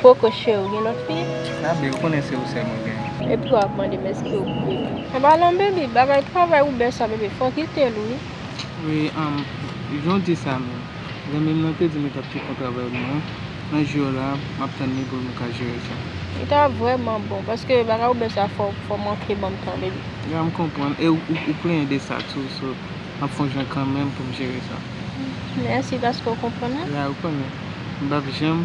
Poko cheri ou gen lòt fi? Abi ou konnen se ou sèl mwen gen. Epi wap ap mandem eske ou k bebe. Epa non baby bagay travay ou bèsa baby fòw kitel wi. Wi humm janw di sa menm. Zanmim nan te dim li tap fè on travay pou mwen nan jou yo la map tann li poum ka jere sa. Li ta vrèman bon paske bagay ou bèsa fòw manke banm tan baby. Ya m konprann e ou plenyen de sa tou so map fon jan kanmenm poum jere sa. Mèsi paske ou konprann mwen. Ya ou konnen m pap janm.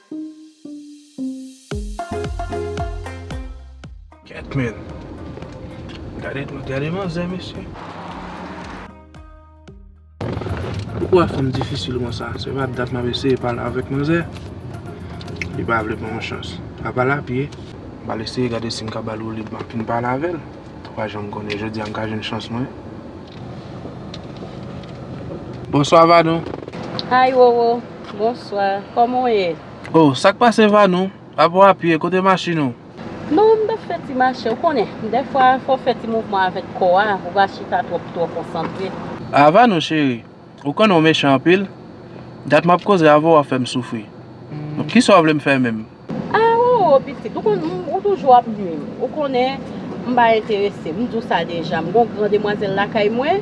Gèt menn. Gade manzè mesye. Pouki wap fèm difisil konsa. Se pa dat map eseye pale avèk manzè. Li pa vle banm chans. Mwen pale a pye. M pral eseye gade sim ka bal woulib map vin pale avèl. Ou pa janm konnen. Jodia m ka jwenn chans mwen. Bonswa Vadon. Hi Roro. Bonswa, kòman w ye? Oh, sa k pase Vanou? A bon api e kote machin ou? Non, m t ap fè ti mache. Ou konnen, dèfwa fò w fè ti mouvman avèk kò a, ou pa chita twòp twò konsantre. Ah Vanou cheri, ou konnen w mechan anpil? Dat m ap koze avè w ap fè m soufri. Bon, kisa w vle m fè menm? Ah oo pitit ou konn m ou toujou ap nwi m ou konnen m pa enterese m di w sa deja m gon gran demwazèl lakay mwen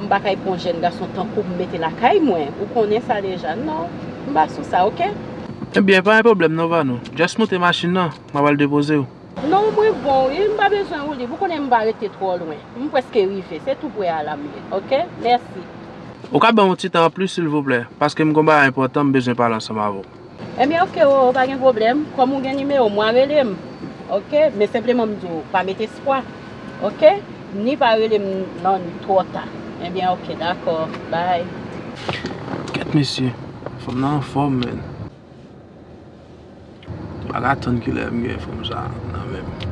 m pa kay pwan jèn gason tankou m mete lakay mwen ou konnen sa deja non m pa sou sa ok. Ebyen pa gen pwoblèm non Vanou just moute machin nan m ap al depoze w. Non mwen bon wi m pa bezwen woulib ou konnen m pa rete twò lwen m pwèske rive se tou pwè a la m ye ok mèsi. Ou ka ban m yon ti tan anplis silvouplè paske m gon bagay enpòtan m bezwen pale ansanm avè w. Ebyen ok roro pa gen pwoblèm kòm ou gen nimewo mwen rele m ok men senpleman m di w pa met espwa ok ni pa rele m nan li twò ta ebyen ok dakò bye. Kèt mesye, fanm nan anfòm menn. M pa ka atann kilè m gen fanm sa nan men m.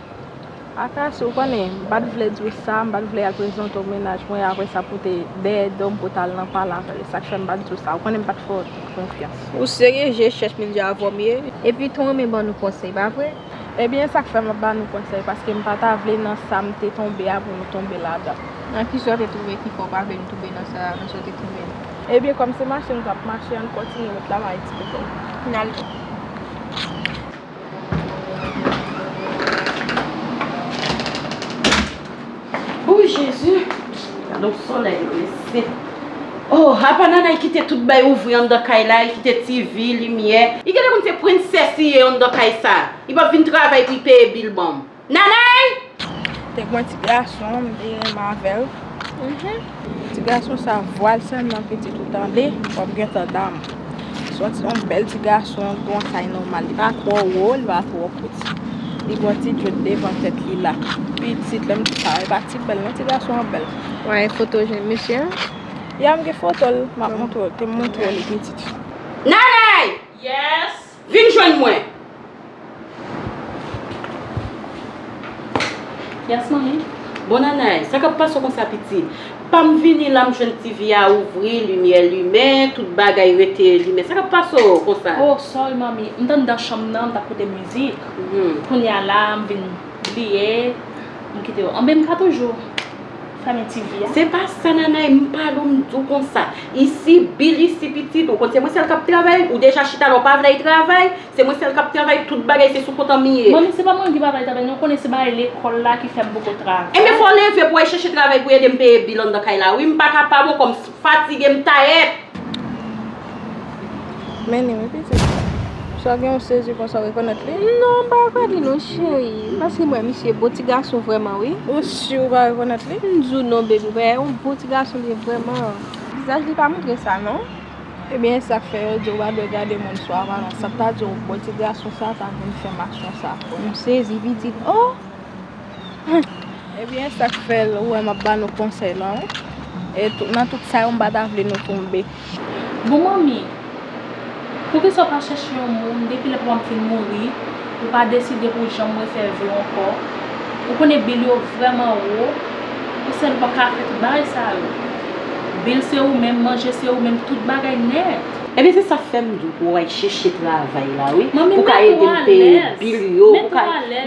Akass ou konnen m pat vle di w sa, m pat vle y al prezante w mennaj mwen aprè sa pou w te dèyè do m pou w t al nan pale avè l, e sa k fè m pat di w sa, ou konnen m pat fè w konfyans. Ou serye je chèch men je avòm ye. Epi tou renmen ban nou konsèy pa vre? Ebyen e sa k fè m ap ba nou konsèy paske m pa ta vle nan sa m te tonbe a pou nou tonbe ladan. Nan ki sa w te twouve ki fè w pa vle nou tonbe nan sa nan sa w te twouve nou? Ebyen kòm se mache nou t ap mache an n kontinye met la m a eksplike w. N al. Ooh jezi Gade yon solèy yo mesye Ohh apa Nanay kite tout bagay ouvri anndan kay la li kite TV, limyè. Li gentan konn se princesse li ye anndan kay sa. Li pap vin travay pou li peye bill banm. Nanay! Te gwen ti gason m te renmen avèl. Ti gason sa vwal sèlman pitit ou tande wap gentan dam. Son ti yon bèl ti gason gwen kay nòmal li pa twò wo li pa twò piti. Li gwen ti djòd devan tèt li la. Pitit lèm di sa e pa ti bèl non ti gason an bèl. Ou gen foto jèn mesye an? Ya m gen fotol map montre w te montre w li pitit. Nanay! Yes! Vin jwenn mwen. Yes manmi. Bon Nanay, sa kap pase w konsa pitit? Pa m vini la m jwenn TV a ouvri, limyè limen, tout bagay rete limen. Sa kap pase w konsa? Oh sorry manmi, m t andan chanm nan m tap koute mizik. Kounya la m vin bliye. M kite yo anben m ka toujou fèmen ti vi a. Se pa sa Nanay m pa do m di w konsa. Isi bil isi pitit ou konn se mwen sèl k ap travay ou deja chita la ou pa vle al travay se mwen sèl k ap travay tout bagay se sou kont an m ye. Manmi se pa mwen ki pa vle al travay non ou konnen se bagay lekòl la ki fè m poko travay. Enben fò w leve pou w al chèche travay pou w ede m peye bil anndan kay la wi m pa kapab ankò m. Fatige m tayèt! Mennen wi pitit. Sa gen yon sezi konsa w rekonèt li? Non m pa rekonèt li non cheri. Paske m wè misye bon ti gason vrèman wi. Ou si w pa rekonèt li? M di w non baby m wè yon bon ti gason li ye vrèman. Vizaj li pa montre sa non. Ebyen e sak fè yo di w pa dwe gade moun sou aparans. Sa ta di w bon ti gason sa ta vin fè m aksyon sa. M sezi pitit oh! Ebyen sak fel ou wè map ba nou konsey la wi e nan tout sa yo m pa ta vle nou tonbe. Bon manmi poukisa ou pa chèche yon moun depi lè papam fin mouri ou pa deside pou janm refè vye ankò ou konnen bil yo vrèman wo ou sèl ou pap ka fè tout bagay sa yo bil se ou menm manje se ou menm tout bagay nèt. Ebyen se sa fem di w pou w al cheche travay la wi pou ka ede m peye bill yo pou ka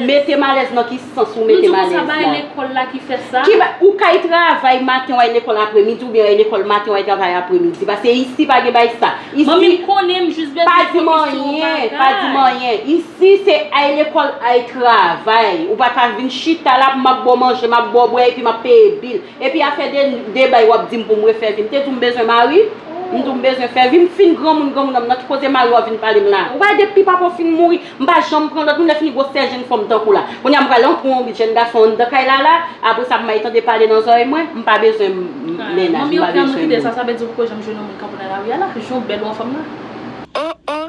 metem alez nan ki sans ou metem alez la. Nou di w konsa bay lekol la ki fe sa. Ki bay, ou kay travay maten w al lekol apre midi oubyen w al lekol maten w al travay apre midi paske isi pa gen bay sa. Manmi m konnen m jis bezwen yon komisyon bagay. Pa di m anyen, pa di m anyen. Isi se al lekol al travay. Ou pa ka vin chita la pou map ba w manje, map ba w bwe epi map peye bill. Epi afè de de bay wap dim poum refè vi m te diw m bezwen mari m diw m bezwen fè vi m fin granmoun granmoun nan m nan ki koze mari wap vin palem la ou pa wè dpi papa'w fin mouri m pa janm pran lòt moun lè fini gwosè jenn fanm tankou la kounya m pral antre yon jenn gason anndan kay la la apre sa may tande pale nan zòrèy mwen m pa bezwen mennaj m pa bezwen moun. Manmi ok an nou kite sa sa vle di ou poko janm jwenn yon moun kanpe nan lari a la jan w bèl ou anfòm la. Oh oh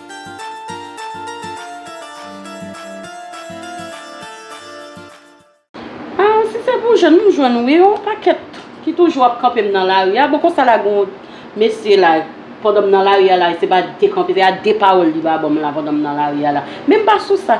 Aah si se pou jèn m jwenn wi yon pakèt ki toujou ap kanpe m nan lari a bon konsa la gen yon mesye la pandan m nan lari a la se pa dekanpe se a de pawòl li ba banm la pandan m nan lari a la men m pa sou sa.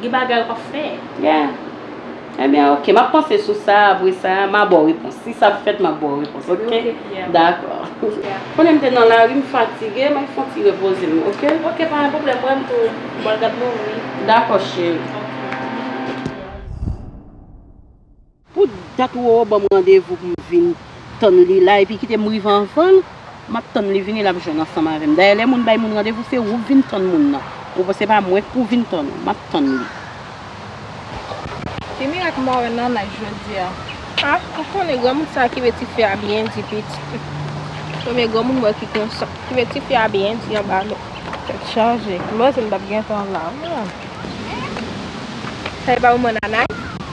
Gen bagay ou pa fè. Yeah. Ebyen ok, m ap panse sou sa, apre sa, m a ba w repons. Si sa fèt, m ap ba w repons, ok? Ok, yeah. Dakò. Yeah. Konnen m te nan lari, m fatige, m al fon ti repoze m, ok? Ok, pa gen pwoblèm, mwen menm tou, m pral gad movi. Dakò, cheri. Ok. Pou dat Roro banm randevou pou m vin tann li la epi kite m rive anvan l map tann li vini lap jwenn ansanm avè m dayè lè moun bay moun randevou se ou k vin tann moun nan ou pa se pa mwen k pou vin tann ou map tann li. Ki mirak Moren nan nice jodi a. Ah ou konnen granmoun sa ki vle tifi a byen di pitit li premye granmoun mwen ki konsa ki vle tifi a byen di anba men. Tèt chaje, m panse m tap gentan la. Sa e pa manman Nanay?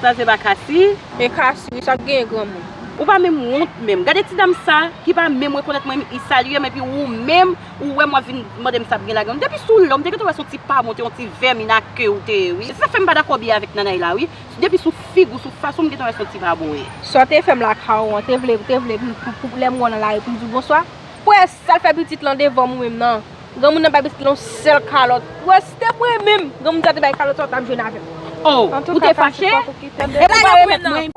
Sa se pa Cassie? E Cassie wi, sa k genyen granmoun? Ou pa menm wont menm. Gade ti dam sa ki pa menm rekonèt mwen i salyem epi ou menm ou wèm wap vin mandem sa p gen ladanl. Depi sou lèw m te gentan wè son ti pa bon te yon ti vèmin a ke ou te ye wi. E se sak fèm pa dakò byen avèk Nanay la wi. Depi sou fig ou sou fas ou m gentan wè son ti pa bon ye. Sa w te fè m lakay ou an, te vle, te vle pou lè m wè w nan lari pou m di w bonswa? Kwè sal fè pitit lan devan m ou menm nan. Granmoun nan bay pitit la yon sèl kalòt. Wè si te mwen menm granmoun sa te bay kalòt sa ou tap jwenn avèm. Oh ou te fache? Rete la yo remèt mwen.